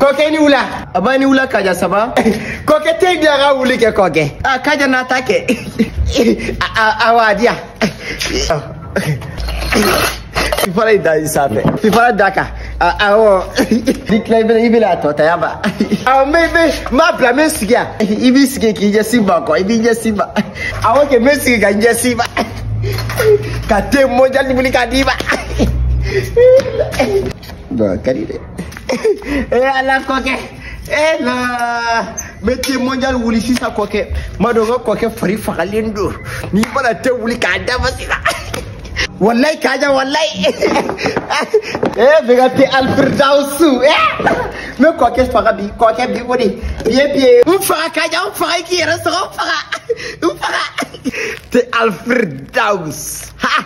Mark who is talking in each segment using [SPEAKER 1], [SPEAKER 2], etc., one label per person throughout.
[SPEAKER 1] kɔkɛ ni wula a b'a ni wula kaja saba kɔkɛ te in diya ka wuli kɛ kɔkɛ a kaja n'a ta kɛ a wa diya fifalan in da i sanfɛ fifalan d'a kan awɔ n'i tila i bɛna i bɛna a tɔ ta yan ba awɔ n bɛ n bɛ n b'a bila n bɛ sigi yan i b'i sigi k'i ɲɛsin ma kɔ i b'i ɲɛsin ma awɔ kɛ n bɛ sigi ka n ɲɛsin ma ka te mondial wuli ka d'i ma waaw ka di dɛ ee ala kɔkɛ ee ne bɛ te mondial wuli sisan kɔkɛ m'a dɔn ko kɔkɛ fari fagalen don n'i mana te wuli k'a dafa sisan wallahi kaja wallahi ee bɛ ka te alfirdausu ee ne kɔkɛ faga bi kɔkɛ bi o de bi ye bi ye n faga kaja n faga i k'i yɛrɛ sɔrɔ n faga n faga te alfirdaus ha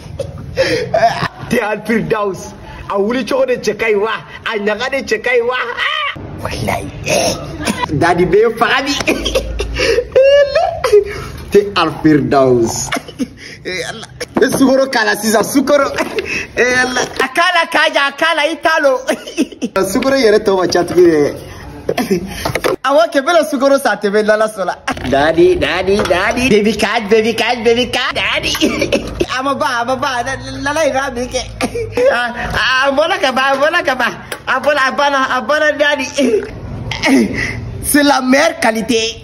[SPEAKER 1] te alfirdaus a wuli cogo de cɛ ka ɲi wa a ɲaga de cɛ ka ɲi wa walayi dadi bɛ faga bi te alfirdaus bɛ sukoro k'a la sisan sukoro a k'a la kaja a k'a la i t'a lɔn sukoro yɛrɛ tɔ man ca tuguni dɛ Awɔ kɛ n bɛna sukoro san tebe lala sola. Daddy, daddy, daddy. Baby cat, baby cat, baby cat, daddy. A ma ban, a ma ban, lala ira mi ke. A bɔla ka ban, bɔla ka ban. A bɔla, a banna, a banna daddy. C'est la meilleure qualité.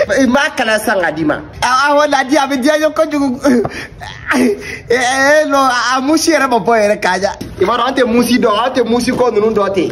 [SPEAKER 1] I m'a kalan san ka d'i ma. Awɔ dadi a bɛ diya ye kojugu. Ee non a musi yɛrɛ ma bɔ yɛrɛ Kaja. I b'a dɔn an tɛ musi dɔn an tɛ musi ko ninnu dɔn ten.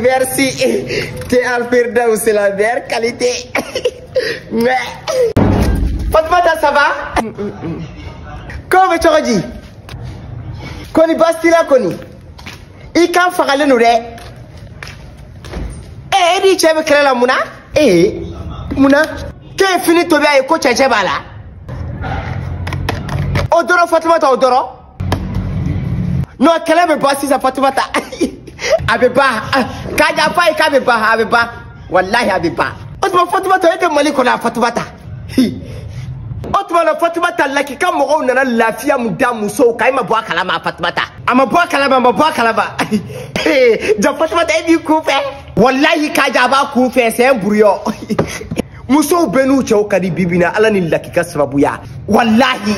[SPEAKER 1] Merci. Te Alfirdaus, c'est la meilleure qualité. Mais. Fatmata, ça va Comme tu as dit. Kɔni basi t'a la kɔni. I kan fagalen don dɛ. Eh, e n'i cɛ bɛ kɛlɛ la mun na? Eh, mun na? K'e ye fini tobi a ye ko cɛncɛn b'a la. O dɔrɔn Fatumata o dɔrɔn. non kɛlɛ bɛ ban sisan fatumata a bɛ ban kaja f'a ye k'a bɛ ban a bɛ ban walahi a bɛ ban o tuma fatumata e tɛ mali kɔnɔ a fatumata o tuma na fatumata lakika mɔgɔw nana lafiya min da musow kan e ma bɔ a kalama a fatumata a ma bɔ a kalama a ma bɔ a kalama ja fatumata e b'i kun fɛ walahi kaja a b'a kun fɛ sɛn buruyɔ musow bɛɛ n'u cɛw ka di bi bi in na ala ni lakika sababuya walahi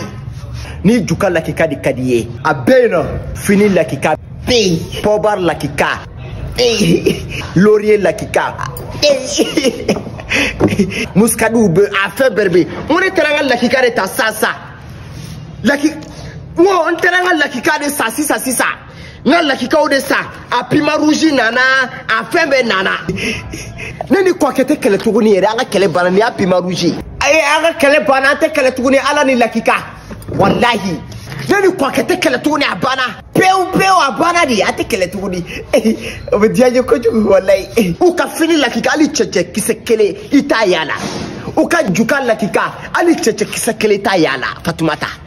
[SPEAKER 1] ni juka lakika de ka di ye a bɛɛ yen nɔ fini lakika bɛ yen pɔbar lakika bɛ yen loriye lakika bɛ yen muskadiw bɛ a fɛn bɛɛ bɛ yen n ko ne taara n ka lakika de ta sisan sisan laki n ko n taara n ka lakika de san sisan sisan. n ka lakikaw de sa a pima rouge nana a fɛn bɛɛ nana ne ni kɔkɛ tɛ kɛlɛ tuguni yɛrɛ an ka kɛlɛ banna nin y'a pima rouge ye ayi an ka kɛlɛ banna an tɛ kɛlɛ tuguni ala ni lakika walahi ne ni kɔkɛ tɛ kɛlɛ tuguni a banna pewu pewu a banna de an tɛ kɛlɛ tuguni o bɛ diya n ye kojugu walayi u ka fini lakika hali cɛncɛn kisɛ kelen i t'a y'a la u ka juka lakika hali cɛncɛn kisɛ kelen t'a y'a la fatumata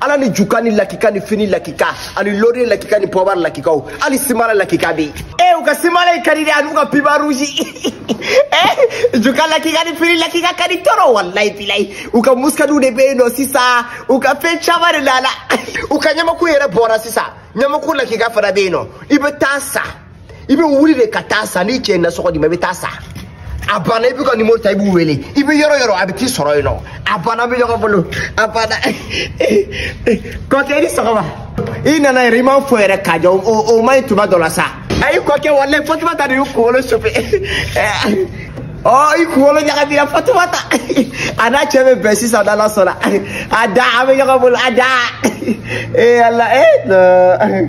[SPEAKER 1] ala ni jukani lakika ni fini lakika ani lori lakika ni pɔbar lakikaw hali simala lakika be yen u ka simala in ka di dɛ an'u ka pima rouge e juka lakika ni fini lakika ka di trop walayi bilayi u ka muskadiw de be yen nɔ sisan u ka fɛn caman de la la u ka ɲamaku yɛrɛ bɔra sisan ɲamaku lakika fana be yen nɔ i be taa sa i bɛ wuli de ka taa sa n'i cɛ ye nasɔngɔ d'i ma i bɛ taa sa a banna i b'u ka nimoro ta i b'u wele i bɛ yɔrɔ o yɔrɔ a bɛ t'i sɔrɔ yen nɔ a banna an bɛ ɲɔgɔn bolo a banna kɔkɛ i ni sɔgɔma i nana yɛrɛ i ma n fo yɛrɛ kaja o man ɲi tuma dɔ la sa ayi kɔkɛ walayi fatumata de ye n kunkolo sofe ɔ i kunkolo ɲagamina fatumata a n'a cɛ bɛ bɛn sisan n'ala sɔnna a da an bɛ ɲɔgɔn bolo a da ee ala ee.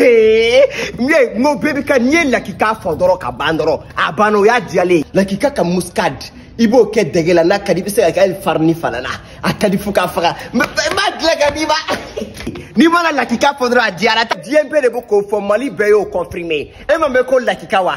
[SPEAKER 1] n ye n ko bɛɛ bɛ ka n'i ye lakika fɔ dɔrɔn ka ban dɔrɔn a banna o y'a diyalen ye lakika ka muscade i b'o kɛ dɛgɛ la n'a ka di i bɛ se k'a kɛ hali farini fana na a ka di fo k'a faga n b'a dilan k'a d'i ma n'i mana lakika fɔ dɔrɔn a diyara diɲɛ bɛɛ de bɛ k'o fɔ mali bɛɛ y'o confirmer e m'a mɛn ko lakika wa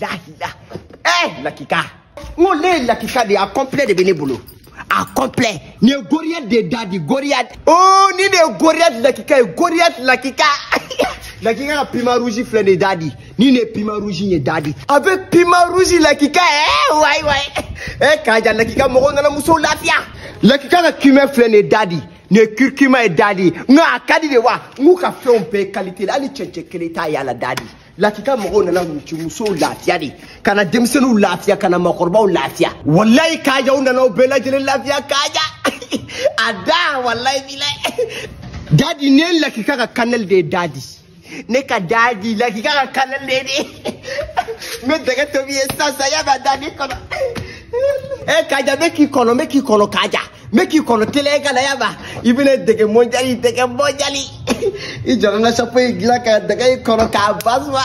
[SPEAKER 1] lahila ɛ lakika n ko ne ye lakika de ye a kɔnpilɛ de bɛ ne bolo a kɔnpilɛ nin ye goriyɛti de dadi goriyɛti oo nin de ye goriyɛti lakika ye goriyɛti lakika lakika ka pima rouge filɛ nin ye dadi ni nin ye pima rouge in ye dadi avec pima rouge lakika ɛ wayi wayi ɛ kaja lakika mɔgɔw nana musow lafiya lakika ka cumin filɛ nin ye dadi nin ye curcuma ye dadi nka a ka di de wa n k'u ka fɛnw bɛɛ kalite la hali cɛncɛn kelen t'a y'a la dadi lakika mɔgɔw nana muso musow lafiya de ka na denmisɛnninw lafiya ka na makɔrɔbaw lafiya walayi kaja u nana u bɛɛ lajɛlen lafiya kaja a da walayi bilayi dadi nin ye lakika ka kanɛli de ye dadi ne ka dadi lakika ka kanɛli de ye de n bɛ dɛgɛ tobi i ye sisan sisan y'a bɛ dadi n kɔnɔ ɛ kaja n bɛ k'i kɔnɔ n bɛ k'i kɔnɔ kaja n bɛ k'i kɔnɔ teliya ka na y'a ma i bɛna dɛgɛ mondial dɛgɛ mondial i jɔ n ka sapo in dilan ka dɛgɛ i kɔnɔ k'a basuma.